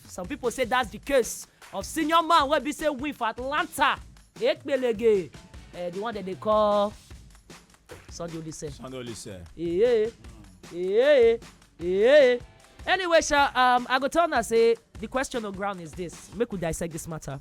Some pipo say dats di case of senior man wey be say win for Atlanta Ekpelege, eh, di one dem dey call Sunday Oliseh. Sunday Oliseh. Eeh, eeh, eeh. Anyway sha, um, I go tell una say di question on ground is dis, make we dissect dis matter.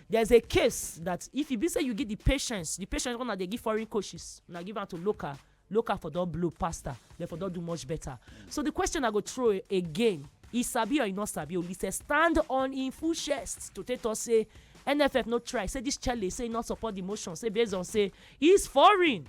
There is a case that if e be say you give the patience, the patience wey una dey give foreign coaches, una give am to local, local for don blow pasta, dem for don do much better. So the question I go throw again, e sabi or e no sabi, Olise stand on im full chest to take talk say NFF no try, say this chelle say e no support the motion, say based on say Is foreign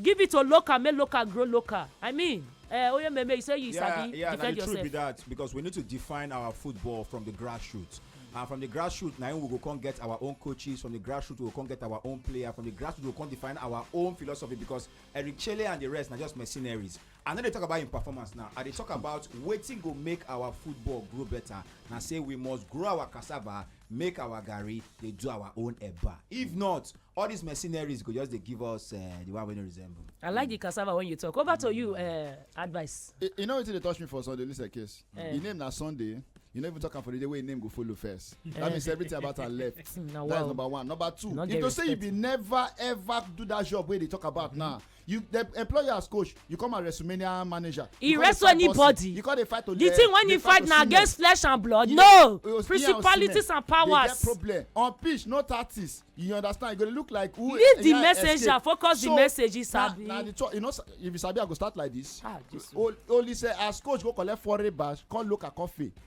give it to local make local grow local i mean uh, oye meme you say you yeah, sabi yeah, defend yourself yeah na the truth be that because we need to define our football from the grassroots and from the grassroots na we go come get our own coaches from the grassroots we go come get our own player from the grassroots we go come define our own philosophy because eric chele and the rest na just mercenaries i no dey talk about im performance now i dey talk about wetin go make our football grow better na say we must grow our cassava make our garri dey do our own eba if not all these mercenaries go just dey give us uh, the one wey no resemble. i like the cassava when you talk over to you uh, advice. you, you know wetin dey touch me for sunday lisa case uh. Eh. im name na sunday you no even talk am for the day wey im name go follow first that eh. means everything about am left that is number one number two if to say you bin never ever do that job wey you dey talk about mm -hmm. now you the employer as coach you come as wrestlemania manager he wrestle anybody you come dey fight to the thing when he fight na against flesh and blood no principalities and powers dey get problem on pitch no tactics you understand you go dey look like who leave the messenger focus the message he sabi na the talk you know if you sabi i go start like this ah jesus only say as coach go collect foreign badge come local coffee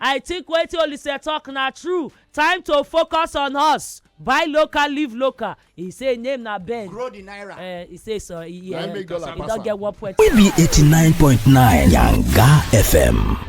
I think wetin Olise talk na true, time to focus on us, buy local leave local, he say im name na Ben. Grow the naira. Uh, he say so, he, Na im um, make dollar he pass don am. get one point. We be 89.9 Yanga FM.